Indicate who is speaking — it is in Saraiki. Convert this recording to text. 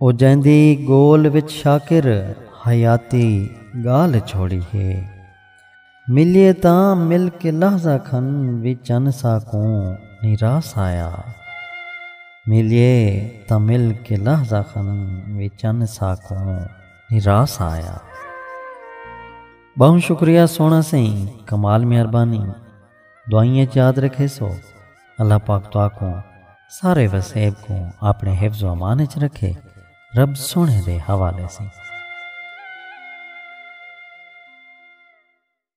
Speaker 1: او جیندی گول وچ شاکر حیاتی گالھ چھوڑی ہے۔ ملیے تاں مل کے لحظہ کھن وی چن ساکوں نی راس آیا۔ ملیے تاں مل کے لحظہ کھن وی چن ساکوں نی راس آیا۔ بہوں شکریہ سوہنا سئیں کمال مہربانی۔ دعائیں اچ یاد رکھیسو۔ اللہ پاک تہاکوں سارے وسیب کوں آپنڑے حفظ و امان اچ رکھے۔ رب سوہنڑے دے حوالے سیں۔